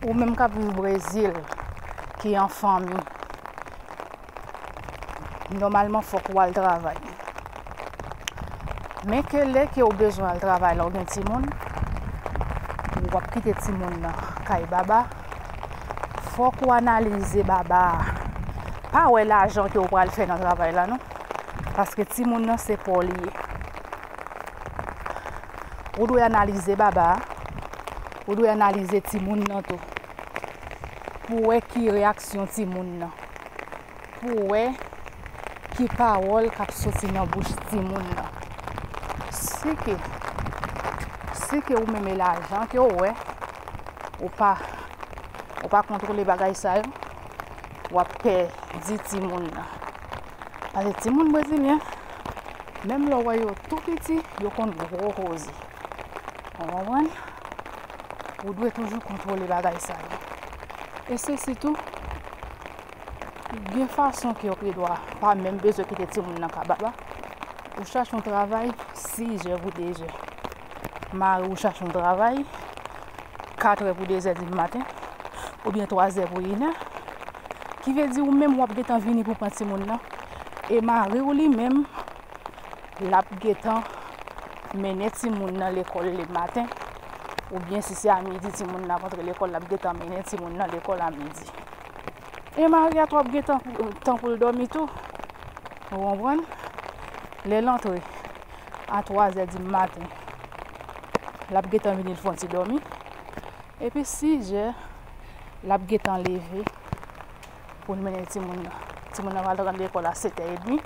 Ou menm kap viv brezil ki an fanmi. Nòmalman fòk wal travay. Men ke lè ke ou bezwen al travay la ou gen timoun. Ou wap kite timoun nan kay baba. Fòk ou analize baba. Pa wè lajan ke ou pral fè nan travay la non. Paske timoun nan se paw li ye. Ou dwe analize baba a, ou dwe analize timoun nan tou. Pou wè ki reyaksyon timoun nan. Pou wè ki pawòl k ap soti nan bouch timoun nan. Si ke, si ke ou menm e lajan ke ou wè, ou pa, ou pa kontwole bagay sa yo, w ap pèdi timoun nan. Pase timoun brezilyen, Menm lè w wè yo tou piti, yo konn gwo koze. Ou konprann? Ou dwe toujou kontwole bagay sa yo. E se sitou, gen fason ke w pi dwa pa menm bezwen kite timoun nan kabab la. Ou chache yon travay, 6 jè pou 2 jè. Mari ou chache yon travay, 4 è pou 2 zè di maten, oubyen 3 zè pou 1 è. Ki vle di ou menm w ap gen tan vini pou pran timoun nan, E mariw li menm lap gentan mennen timoun nan lekòl le maten oubyen si se a midi timoun nan ap antre lekòl lap gentan mennen timoun nan lekòl a midi. E mari a tou ap gen tan poul dòmi tou ou konprann. Lèl antre a twazè di maten lap gentan vini l fon ti dòmi epi sizè lap gentan leve. Pou n mennen timoun nan. Timoun nan pral rantre lekòl a setè edmi.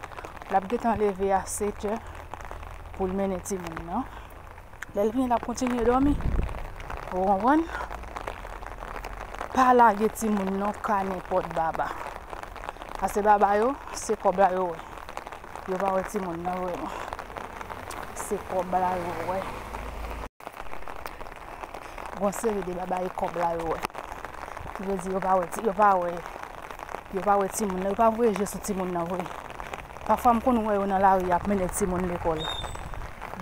L ap gentan leve a setè pou l mennen timoun nan. Lè l vini l ap kontinye dòmi. Ou konprann? Pa lage timoun nan ka nenpòt baba. Pase baba yo, se kòb la yo wè. Yo pa wè timoun nan vrèman. Se kòb la yo wè. Gon seri de babay kòb la yo wè. Ki vle di yo pa wè ti yo pa wè yo pa wè timoun nan yo pa voye je sou timoun nan vre. Pafwa m konn wè yo nan lari ap mennen timoun lekòl.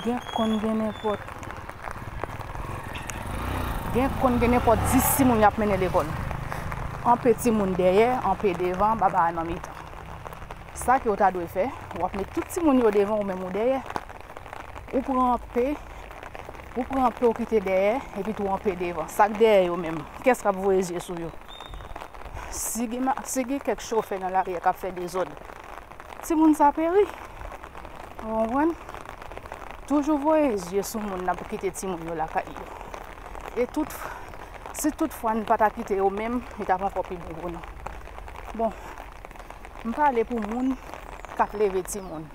Gen konn gen nenpòt gen konn gen nenpòt 10 timoun y ap mennen lekòl. Anpe timoun dèyè, anpe devan, baba a nan mitan. Sa ke w ta dwe fè, w ap met tout timoun yo devan ou menm ou dèyè. ou pran anpe, ou pran anpe ou kite dèyè, epi tou anpe devan. Sak dèyè yo menm, kès kap voye zye sou yo? Si gen, si gen kèk chofè nan lari a kap fè dezòd, ti moun sa peri. Ou konprann? Toujou voye zye sou moun nan pou kite ti moun yo lakay yo. E tout, si tout fwa n pata kite yo menm, li tap ankò pi bon pou nou. Bon, m pale pou moun kap leve ti moun.